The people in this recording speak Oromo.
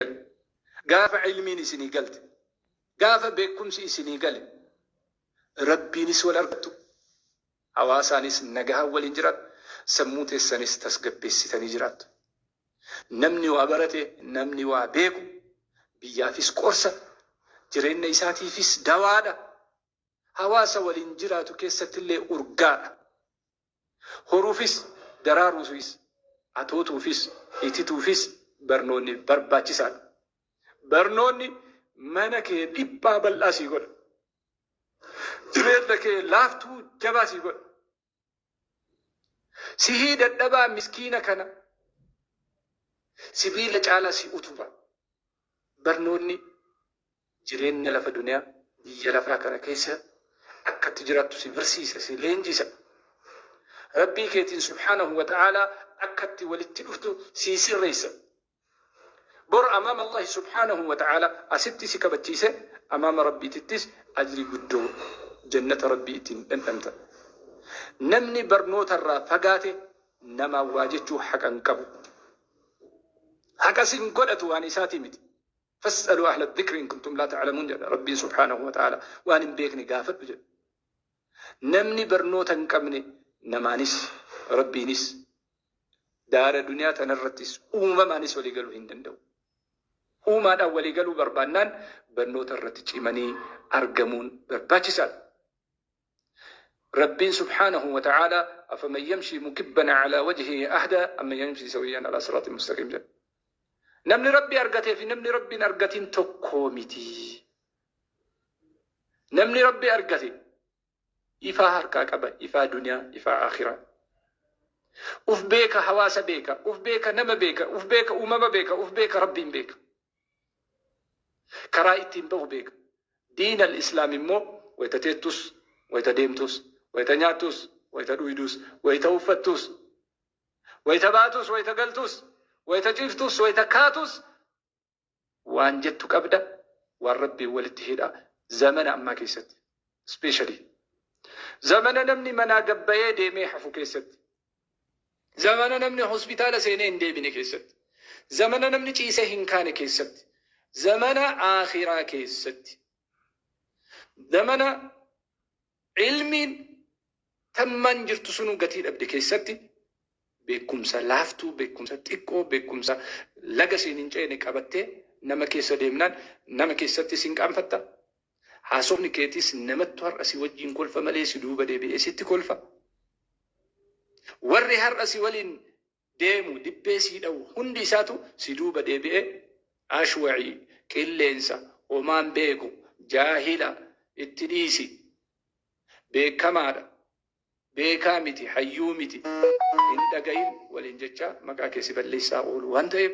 Garuu gaafa ilmiin isinii galte, gaafa beekkumsi isinii gale Rabbiinis wal argattu, hawaasaanis nagahaan waliin jiraattu, sammuu teessanis tasgabbeessitanii jiraattu. Namni waa barate, namni waa beeku biyyaafis qorsa, jireenna isaatiifis dawaadha, hawaasa waliin jiraatu keessattillee urgaadha. Horuufis, daraaruufis, atootuufis, itituufis barnoonni barbaachisaadha. Barnoonni mana kee dhiphaa bal'aa sii godha. Jireenya kee laaftuu jabaa sii godha. Sihii dadhabaa miskiina kana sibiila caalaa si utuba. Barnoonni jireenya lafa duniyaa biyya lafaa kana keessa akka itti jiraattu si barsiisa si leenjisa rabbii keetiin subhaanahu wa ta'aalaa akka itti walitti dhuftu sii sirreessa bor amaama allahi subhaanahu wa ta'aalaa asitti si kabachiise amaama rabbiitittis ajrii guddoo jannata rabbii ittiin dhandhamta namni barnoota irraa fagaate namaa waa jechuu haqa hin qabu haqa sin godhatu waan isaatii miti Fas'aluu ahla dhikri in kuntum laa ta'lamuun jedha Rabbiin subhaanahu wa ta'aalaa. Waan hin beekne gaafadhu jedha. Namni barnoota hin qabne namaanis Rabbiinis daara duniyaa tanarrattis uumamaanis walii galuu hin danda'u. Uumaadhaan walii galuu barbaannaan barnoota irratti cimanii argamuun barbaachisaadha. Rabbiin subhaanahu wa ta'aalaa afaman yamshii mukibban a'laa wajhihi ahdaa amman yamshii sawiyyan alaa siraaxin mustaqiim jedha. Namni Rabbi argatee fi namni Rabbi hin argatin tokkoo miti. Namni Rabbi argate ifaa harkaa qaba, ifaa duniyaa, ifaa aakhiraa. Uf beeka, hawaasa beeka, uf beeka, nama beeka, uf beeka, uumama beeka, uf beeka, Rabbiin beeka. Karaa ittiin bahu beeka. Diin al-Islaam immoo wayta teettus, wayta deemtus, wayta nyaattus, wayta dhuydus, wayta uffattus, wayta baatus, wayta galtus, wayta ciiftus, wayta kaatus waan jettu qabda, waan Rabbiin walitti hidha zamana ammaa keessatti. Especially zamana namni manaa gad bahee deemee hafu keessatti. Zamana namni hospitaala seenee hin deebine keessatti. Zamana namni ciisee hin kaane keessatti. Zamana Aakhiraa keessatti. Zamana ilmiin tammaan jirtu sunuu gatii dhabde keessatti beekumsa laaftuu, beekumsa xiqqoo, beekumsa laga siin hin ceene qabattee nama keessa deemnaan nama keessatti sin qaanfatta, Haasofni keetis namattu har'a si wajjin kolfa malee si duuba deebi'ee sitti kolfa. Warri har'a si waliin deemu dibbee sii dhawu hundi isaatu si duuba deebi'ee ashwa'ii, qilleensa, homaa hin beeku, jaahila, itti dhiisi, beekamaadha, beekaa miti, hayyuu miti, hin dhagahin waliin jechaa maqaa kee si balleessaa oolu waan ta'eef